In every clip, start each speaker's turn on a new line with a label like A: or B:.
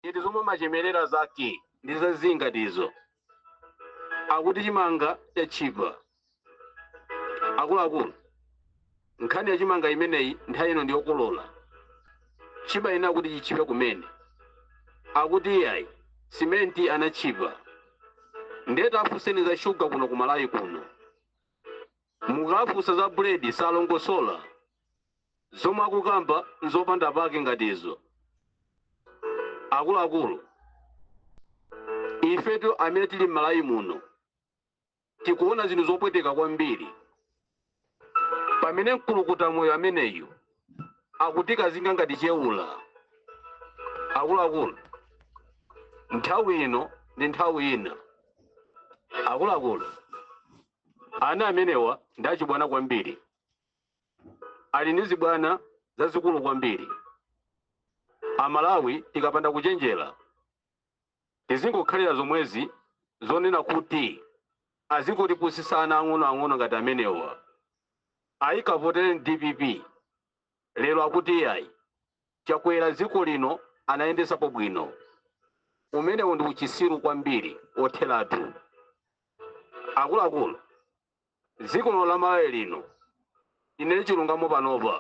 A: Ziti zomwe umachemerera zake? Ndi za zii ngati izo. Akuti chimanga chatchipa. Akuluakulu, nkhani ya chimanga imeneyi nthawi ino ndi yokolola. Chibana kuti chitchipe kumene. Akuti iyayi, simenti anatchipa. Ndiye tafunseni za shuga kuno ku Malawi kuno. Mukafunsa za bread salongosola. Zomwe akukamba nzopanda pake ngati izo. Akuluakulu, ifetu amene tili m'Malawi muno tikuona zinthu zopweteka kwambiri pamene mkulukuta moyo ameneyu akutikazinga ngati chewula. Akuluakulu, nthawi ino ndi nthawi ina. Akuluakulu, Ana amenewa ndi achibwana kwambiri, ali ndi zibwana zazikulu kwambiri. Amalawi tikapanda kuchenjera tizingokhalira zomwezi zonena kuti azingotipusitsa ana ang'onoang'ono ngati amenewa. Ayi, kavotereni dpp. Lero akuti iyayi chakwera dziko lino anayendetsapo bwino. Umenewo ndi uchisiru kwambiri wotheratu. Akuluakulu dziko lino la Malawi lino tinene chilungamo panopa.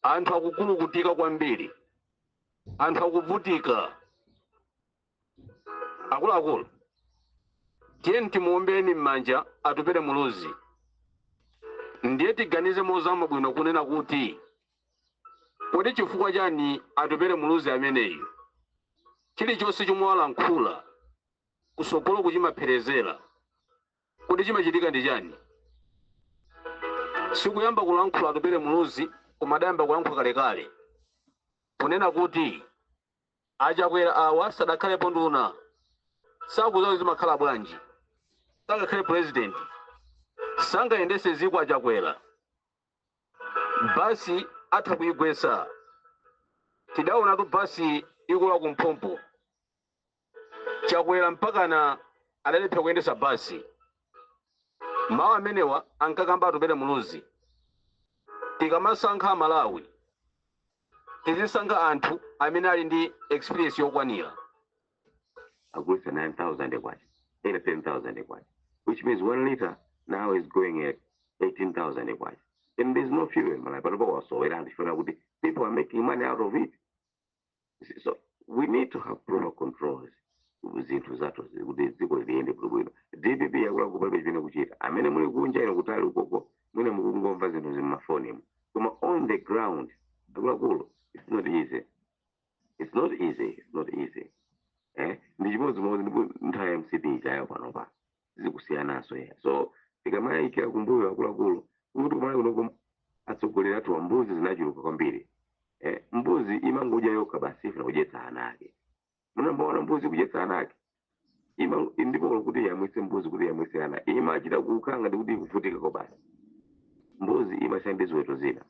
A: Anthu akukulukutika kwambiri. Anthu akuvutika. akuluakulu tiyeni timuombeni m'manja atupere muluzi ndiye tiganize mozama bwino kunena kuti kodi chifukwa chani atupere muluzi ameneyu chilichonse chomwe walankhula kutsogolo ku chimapherezera kodi chimachitika ndi chani sikuyamba kulankhula atupere muluzi koma adayamba kulankhula kalekale kunena kuti Achakwera awa sadakhalepo nduna sakudziwa kuti zimakhala bwanji sangakhale president sangayendetse dziko achakwera basi atha kuigwetsa tidaonatu basi ikugwa kumphompo chakwera mpakana adalephera kuyendetsa basi mawu amenewa ankakamba atupere muluzi tikamasankha amalawi tizisankha anthu amene ali ndi experience
B: yokwanira akugulitsa 9000 kwacha ena 10000 kwacha which means one liter now is going at 18000 kwacha and there's no fuel in malawi panopa wasowera anthu chifukwa kuti people are making money out of it so we need to have proper controls zinthu zathu zi- kuti dziko liyende bwinobwino dpp yakulakuyi palibe chimene ikuchita amene muli kunja ino kutali ukoko mwina mukungomva zinthu za mmafonimo koma on the ground akuluakulu it's not easy it's not easy it's not easy eh ndi chimodzimodzi ndi nthawi ya mcp ijayi panopa zikusiyananso ya so tikamayikira kumbuyo akuluakulu kuti kumalawi kunoko atsogoleri athuwa mbuzi zinachuluka kwambiri eh mbuzi imangodya yokha basi ifuna kudyetsa ana ake munamuonapo mbuzi kudyetsa ana ake Ima- ndipo olo kuti yamwise mbuzi kuti yamwise ana imachita kukanga ndikuti ikuvutikako basi mbuzi imasiyana ndi ziweto zina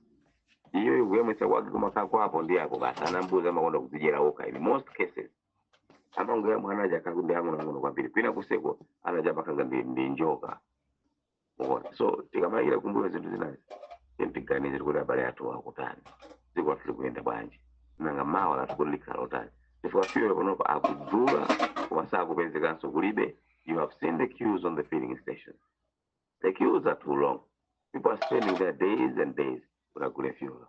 B: iyo kuyamwisa kwake kumakhala kwapo ndi ako basi ana mbuzi amakonda kuzidyera okha in most cases amangoyamwa ana aja akadali ang'onoang'ono kwambiri kwina kuseko anachapa kanga ndi, ndi njoka mukuona so tikamayikira kumbuyo zinthu zinazi then tiganizire kuti abale athu akutani dziko lathu likuyenda bwanji nanga mawa lathu kodi likhala lotani chifukwa fuel panopa akudula koma sakupezekanso kulibe you have seen the queues on the filling station the queues are too long people are spending their days and days kuti agule fuel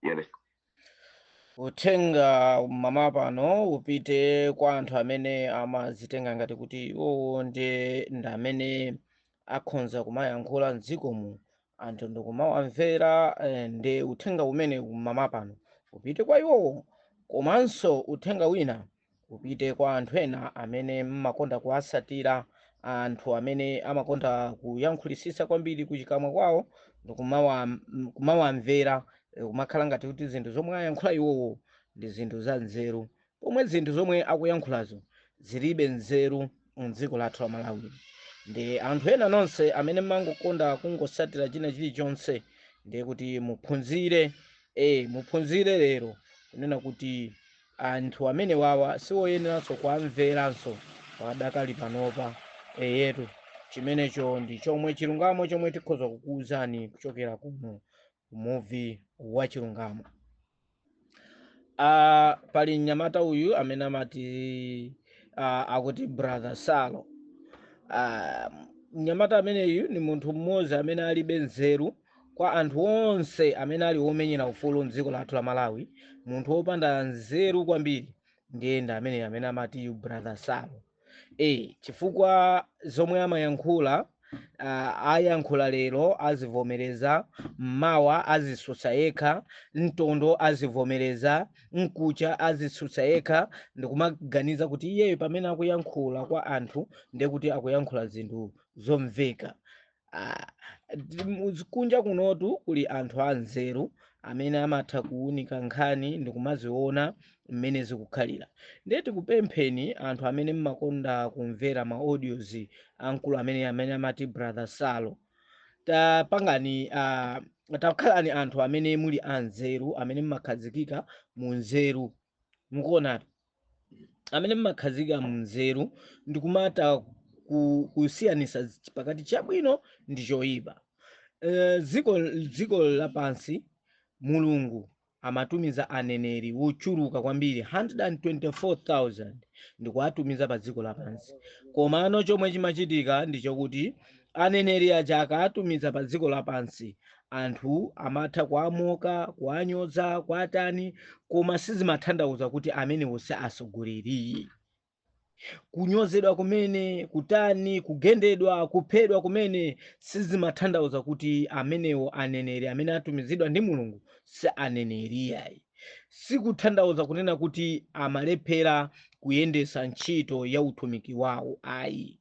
B: Yes. uthenga
C: mama pano upite kwa anthu amene amazitenga ngati kuti iwowo ndiye ndi amene akhonza kumayankhula mdzikomu anthu ndikumawamvera eh, ndi uthenga umene mama pano upite kwa iwowo komanso uthenga wina upite kwa anthu ena amene mmakonda kuwasatira anthu amene amakonda kuyankhulisisa kwambiri kuchikamwa kwawo ndikumawa m- kumawamvera eh, kumakhala ngati kuti zinthu zomwe ayankhula iwowo ndi zinthu za nzeru pomwe zinthu zomwe akuyankhulazo zilibe nzeru mdziko lathu la malawi ndi anthu ena nonse amene mmangokonda kungosatira china chilichonse ndiye kuti muphunzire eh muphunzire lero kunena kuti anthu amenewawa siwoyeneranso kuwamveranso padakali panopa eyetu chimenecho ndi chomwe chilungamo chomwe tikhoza kukuwuzani kuchokera kuno muvi wa chilungamo uh, pali mnyamata uyu amene amati uh, akuti brother salo uh, mnyamata ameneyu ndi munthu mmodzi amene alibe nzeru Kwa anthu onse amene ali omenyela ufulu mdziko lathu la Malawi munthu opanda nzeru kwambiri ndiye ndi ameneyo amene amati uyu brother Salo ee chifukwa zomwe amayankhula uh, ayankhula lero azivomereza mmawa azisutsa yekha mtondo azivomereza mkuja azisutsa yekha ndikumaganiza kuti iyeyo pamene akuyankhula kwa anthu ndiye kuti akuyankhula zinthu zomveka Ah, ndi- mu- kunja kunotu kuli anthu anzeru amene amatha kuwunika nkhani ndi kumaziona mmene zikukhalira ndiye tikupempheni anthu amene mmakonda kumvera ma audios amkulu amene amene amati brother salo tapangani ah, takhalani anthu amene muli a nzeru amene mmakhazikika mu nzeru mukuonatu amene mmakhazikika mu nzeru ndi kumatha ku- kusiyanisa zi- pakati chabwino ndi choyipa Eh, dziko dziko lapansi mulungu amatumiza aneneri wochuluka kwambiri 124000 ndikuwatumiza pa dziko lapansi komano chomwe chimachitika ndi chokuti aneneri aja akawatumiza pa dziko lapansi anthu amatha kuwamoka kuwanyoza kuwatani koma sizimathandauza kuti amenewo si asogoleri kunyozedwa kumene kutani kugendedwa kuphedwa kumene sizimathandauza kuti amenewo aneneri amene atumizidwa ndi mulungu si aneneri ayi sikuthandauza kunena kuti amalephera kuyendesa ntchito ya utumiki wawo ayi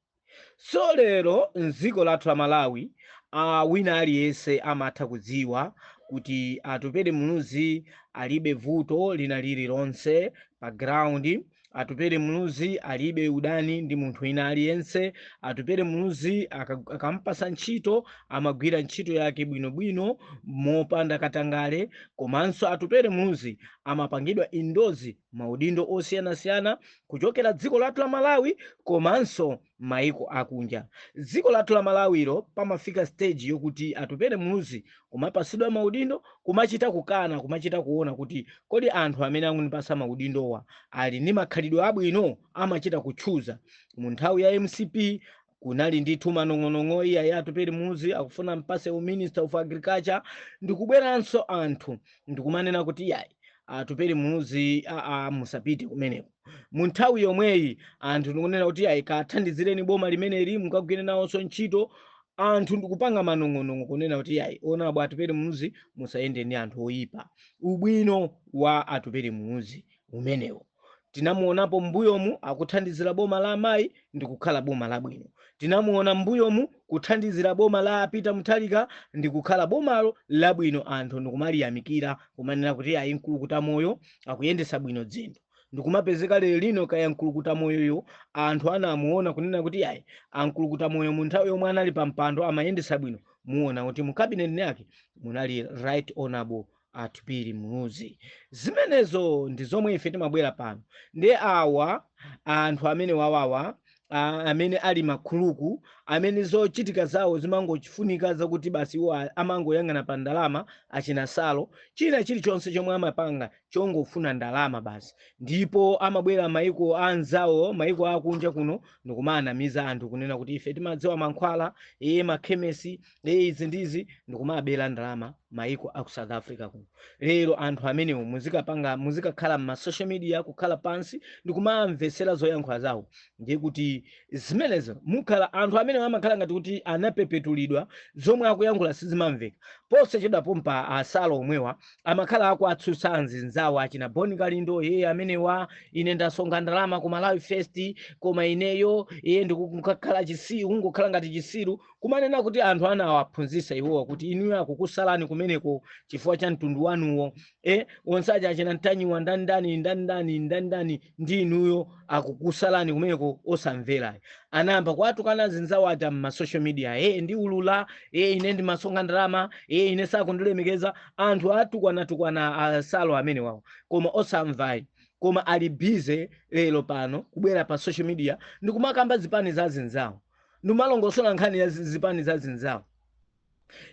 C: So lero m'dziko lathu la Malawi a wina aliyense amatha kudziwa kuti Atupele Muluzi alibe vuto lina lililonse pa ground. Atupele Muluzi alibe udani ndi munthu wina aliyense. Atupele Muluzi aka- akampasa ntchito amagwira ntchito yake bwinobwino mopanda katangale, komanso Atupele Muluzi amapangidwa endorse m'maudindo osiyanasiyana kuchokera dziko lathu la malawi komanso maiko akunja dziko lathu la malawilo pamafika stage yokuti atupere muluzi kumapasidwa maudindo kumachita kukana kumachita kuona kuti kodi anthu amene akunipasa maudindowa ali ndi makhalidwe abwino amachita kuchuza mu nthawi ya mcp kunali ndithu manong'onong'o iyayi atupere muluzi akufuna ampase u minister of agriculture ndikubweranso anthu ndikumanena kuti iyayi atupere muluzi aa musapite kumeneko mu nthawi yomweyi anthu ndikunena kuti iyayi kathandizireni boma limeneli mukagwire nawonso ntchito anthu ndikupanga manong'onong'o kunena kuti iyayi honorable atupere muluzi musayende ndi anthu oyipa ubwino wa atupere muluzi umenewo tinamuonapo m'mbuyomu akuthandizira boma la amayi ndi kukhala boma labwino tinamuona m'mbuyomu kuthandizira boma la a Peter Mutharika ndi kukhala bomalo labwino anthu ndikumaliyamikira kumanena kuti ayi mkulukuta moyo akuyendesa bwino dzinthu ndikumapezeka lero lino kaya mkulukuta moyoyo anthu anamuona kunena kuti ayi amkulukuta moyo mu nthawi yomwe anali pa mpando amayendesa bwino muona kuti mu cabinet yake munali right honorable atupele muluzi zimenezo ndi zomwe ife timabwera pano ndiye awa anthu amene wawawa a- amene ali makhuluku amene zochitika zawo zimangochifunika zakuti basi iwo a- amangoyang'ana pa ndalama achina salo china chilichonse chomwe amapanga chongofuna ndalama basi ndipo amabwera maiko anzawo maiko akunja kuno ndikumanamiza anthu kunena kuti ife timadziwa mankhwala e makhemesi izi ndizi ndikumabera ndalama maiko aku south africa kuno lero anthu amenewo muzikapanga muzikakhala mma social media kukhala pansi ndikumamvetsera zoyankhula zawo ndiye kuti zimenezo mukhala anthu amenewo amakhala ngati kuti anapepetulidwa zomwe akuyankhula sizimamveka posachedwa pompa asala omwewa amakhala akuatsutsa anzinzawo achina boni kalindo ye amenewa ine ndasonkha ndalama ku malawi first koma ineyo iye ndikukhala chisiru kungokhala ngati chisiru kumanena kuti anthu anawaphunzitsa iwowa kuti inuyo akukusalani kumeneko chifukwa cha mtundu wanuwo e onse aja achina mtanyiwa ndandani ndandani ndandani ndi inuyo akukusalani kumeneko osamverayo anayamba kuwatukana zinzawo aja m'masocial media e ndiulula e ine ndimasonkha ndalama e ine sakundilemekeza anthu atukwana-tukwana asalo amenewawo koma osamvayi koma ali busy lero pano kubwera pa social media ndikumakamba zipani za zinzawo ndikumalongosola nkhani ya zi- zipani za zinzawo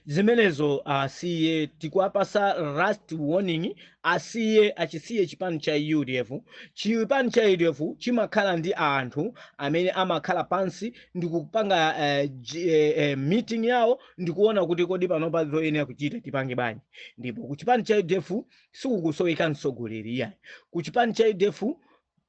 C: zimenezo asiye tikuwapasa last warning asiye achisiye chipani cha udf chipani cha udf chimakhala ndi anthu amene amakhala pansi ndikupanga eh, ji- eh, eh, meeting yawo ndikuona kuti kodi panopa zoyenera kuchita tipange bwanji ndipo ku chipani cha udf sikukusoweka mtsogoleri iyayi ku chipani cha udf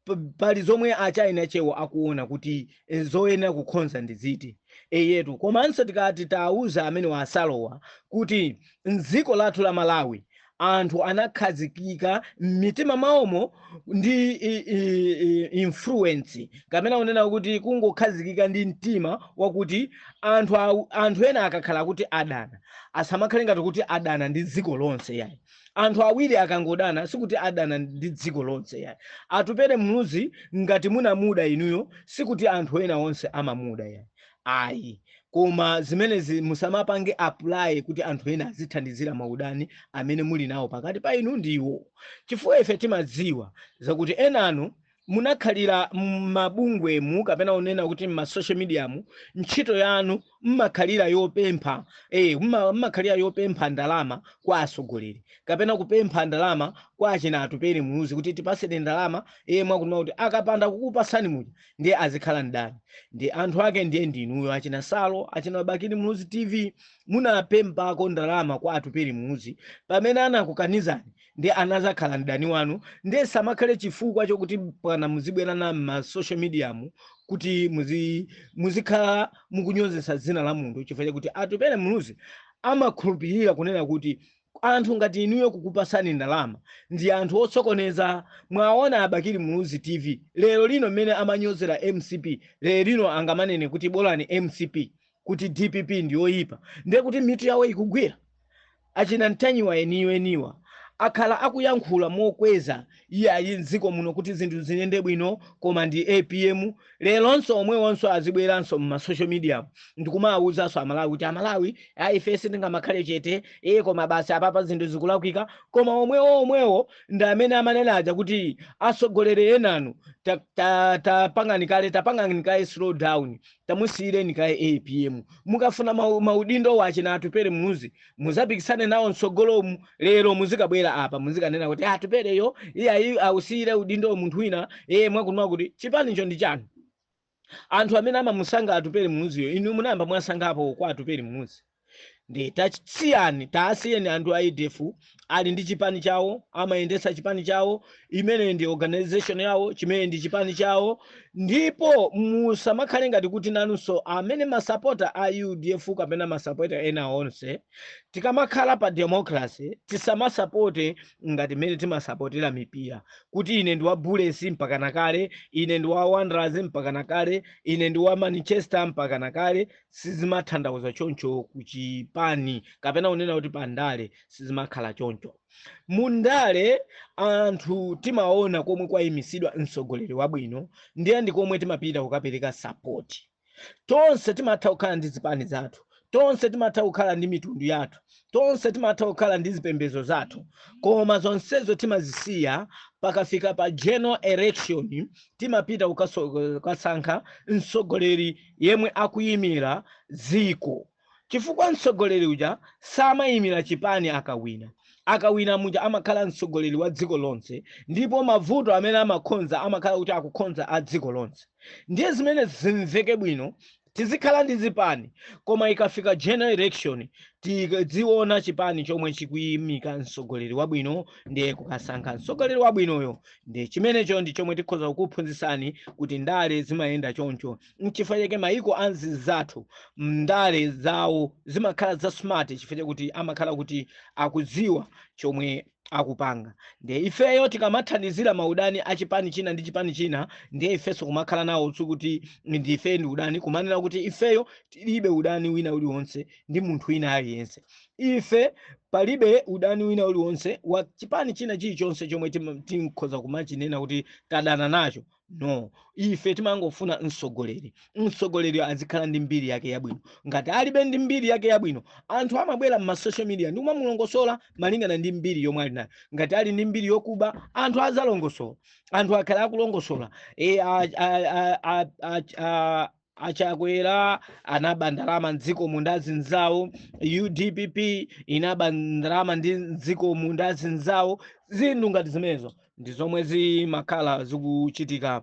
C: p- pali zomwe achina chewo akuona kuti eh, zoyenera kukhonza ndi ziti eyetu komanso tikati tauza amenewa asalowa kuti mdziko lathu la malawi anthu anakhazikika m'mitima mwawomo ndi i- i- i- influence kapena kunena kuti kungokhazikika ndi mtima wakuti anthu, awu- anthu ena akakhala kuti adana asamakhale ngati kuti adana ndi dziko lonse yayi anthu awiri akangodana sikuti adana ndi dziko lonse yayi atupele muluzi ngati munamuda inuyo sikuti anthu ena onse amamuda yayi ayi koma zimenezi musamapange apply kuti anthu ena azithandizira maudani amene muli nawo pakati pa inu ndi iwo chifukwa ife timadziwa zakuti enanu munakhalira m'mabungwemu kapena unena kuti m'ma social mediamu ntchito yanu mmakhalira yopempha eh, mma- mmakhalira yopempha ndalama kwa atsogoleri kapena kupempha ndalama kwa achina atupere muluzi kuti tipaseni ndalama iye mwakunena kuti akapanda kukupasani muja ndiye azikhala mdani ndi anthu ake ndiye ndinuyo achina salo achina bakili muluzi tv munapemphako ndalama kwa atupere muluzi pamene anakukanizani nde anazakhala mdani wanu nde sichimakhala chifukwa chokuti pana muzibwera m'ma social media mu kuti muzi muzikhala mukunyozesa dzina la munthu chifukwa chakuti atupere muluzi amakhulupirira kunena kuti anthu ngati inuyo kukupasani ndalama ndi anthu otsokoneza mwaona abakili muluzi tv lero lino mmene amanyozera mcp lero lino angamanene kuti bolani mcp kuti dpp ndiyoyipa ndiye kuti mitu yawo ikugwira achina ntanyiwa eniyo eniwa akhala akuyankhula mokweza iyayi mdziko muno kuti zinthu ziyende bwino koma ndi apm leronso omwewonso azibweranso mma social media ndikumawuzanso amalawi kuti amalawi ayi ife sitingamakhale chete iye koma basi apapa zinthu zikulakwika koma omwewo omwewo ndi amene amanena aja kuti atsogoleri enanu tapangani ta, ta, tapangani kale tapangani kale slow down tamusiyireni kaye apm mukafuna mau- maudindo wa achina atupere muluzi muzapikisane nawo mtsogolomu lero muzikabwera apa muzikanena kuti atupereyo iyayi ausiyire udindo munthu wina ee mwakunena kuti chipanicho ndi chanu anthu amene amamusankha atupere muluziyo inu munayamba mwasankhapo kwa atupere muluzi nde tasiyani tawasiyeni anthu a udf ali ndi chipani chawo amayendetsa chipani chawo imene ndi organization yawo chimene ndi chipani chawo ndipo musamakhale ngati kuti nanunso amene masapota a udf kapena masapota ena onse tikamakhala pa democracy tisamasapote ngati mmene timasapotera mipira kuti ine ndi wa bullets mpaka nakale ine ndi wa wanderers mpaka nakale ine ndi wa manchester mpaka nakale sizimatanthauza choncho kuchipani kapena unena kuti pandale sizimakhala choncho mundale anthu timaona komwe kwayimisidwa mtsogoleri wabwino ndiye ndi komwe timapita kukapereka sapoti tonse timatha kukhala ndi zipani zathu tonse timatha kukhala ndi mitundu yathu tonse timatha kukhala ndi zipembedzo zathu koma zonsezo timazisiya pakafika pa general election timapita kukaso- kukasankha mtsogoleri yemwe akuyimira dziko chifukwa mtsogoleri uja samayimira chipani akawina akawina muja amakhala mtsogoleri wa dziko lonse ndipo mavuto amene amakhonza amakhala kuti akukhonza a dziko lonse ndiye zimene zimveke bwino tizikhala ndi zipani koma ikafika general election tidziona chipani chomwe chikuyimika mtsogoleri wabwino ndiye kukasankha mtsogoleri wabwinoyo ndi chimenecho ndi chomwe tikhoza kukuphunzitsani kuti ndale zimayenda choncho nchifukwa chake mayiko anzathu ndale zawo zimakhala za smart chifukwa chakuti amakhala kuti akudziwa chomwe akupanga ndiye ifeyo tikamathandizira maudani a chipani china ndi chipani china ndiye ifenso kumakhala nawo sikuti ndife ndi udani kumanena kuti ifeyo tilibe udani wina uliwonse ndi munthu wina aliyense ife palibe udani wina uliwonse wa chipani china chilichonse chomwe tim- tikhoza kumachinena kuti tadana nacho no ife timangofuna mtsogoleri mtsogoleri azikhala ndi mbiri yake yabwino ngati alibe ndi mbiri yake yabwino anthu amabwera m'masocial media ndi kumamulongosola malingana ndi mbiri yomwe ali nayo ngati ali ndi mbiri yokuba anthu azalongosola anthu akhala akulongosola achakwera anaba ndalama mdziko muno ndi azinzawo dpp inaba ndalama ndi mdziko muno ndi azinzawo zinthu ngati zimenezo ndi zomwe zimakhala zikuchitika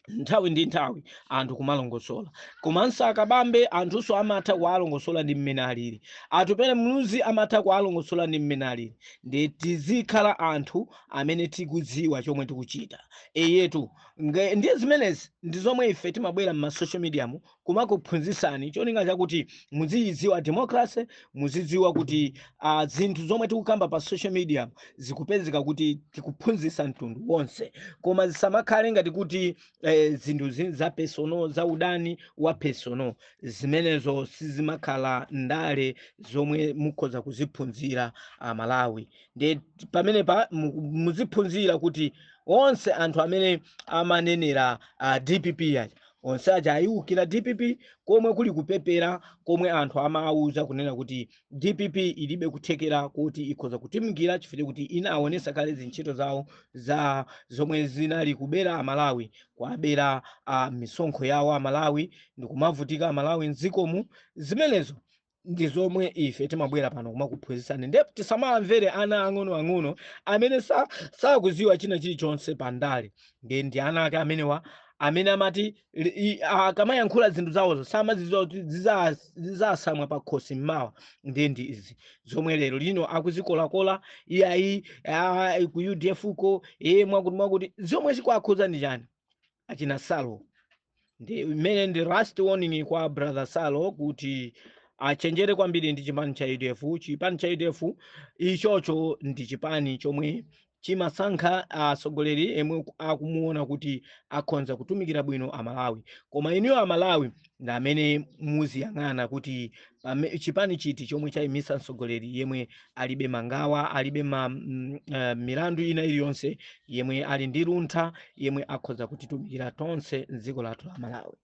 C: nthawi ndi nthawi anthu kumalongosola komanso akabambe anthunso amatha kuwalongosola ndi mmene alili atupele muluzi amatha kuwalongosola ndi mmene alili ndiye tizikhala anthu amene tikudziwa chomwe tikuchita eyetu Nge- ndiye zimenezi ndi zomwe ife timabwera m'ma social media mu kumakuphunzitsani cholinga chakuti muziyidziwa democracy muzidziwa kuti uh, zinthu zomwe tikukamba pa social media mu zikupezeka kuti tikuphunzitsa mtundu wonse koma zisamakhale ngati kuti eh, zinthu za personal za udani wa personal zimenezo sizimakhala ndale zomwe mukhoza kuziphunzira amalawi ndiye pamenepa mu- muziphunzira kuti onse anthu amene amanenera uh, dpp aja onse aja ayiukira dpp komwe kuli kupepera komwe anthu amawuza kunena kuti dpp ilibe kuthekera kuti ikhoza kutumikira chifukwa kuti inaonesa kale zintchito zawo za zomwe zinali kubera amalawi kuabera uh, misonkho yawo amalawi ndikumavutika amalawi mdzikomu zimenezo ndi zomwe ife timabwera pano kumakuphunzitsani ndiye tisamamvere ana ang'onoang'ono amene sa- sakuziwa china chilichonse pa ndale ndi ndi ana ake amenewa amene amati li- i- akamayankhula zinthu zawozo samaziziwa kuti ziza- zizasamwa pa khosi mmawa ndiye ndi izi zomwe lero lino akuzikolakola iyayi ah, ku udf ko iye mwakuti mwakuti zomwe zikuakhuza ndi chani achina salo ndi imene ndi last warning kwa brother salo kuti achenjere kwambiri ndi chipani cha udf chipani cha udf ichocho ndi chipani chomwe chimasankha mtsogoleri yemwe akumuona kuti akhonza kutumikira bwino amalawi koma inuyo amalawi ndi amene muziyang'ana kuti pame- chipani chiti chomwe chayimisa mtsogoleri yemwe alibe mangawa alibe ma, mm, eh, milandu ina iliyonse yemwe ali ndi luntha yemwe akhoza kutitumikira tonse m'dziko lathu la Malawi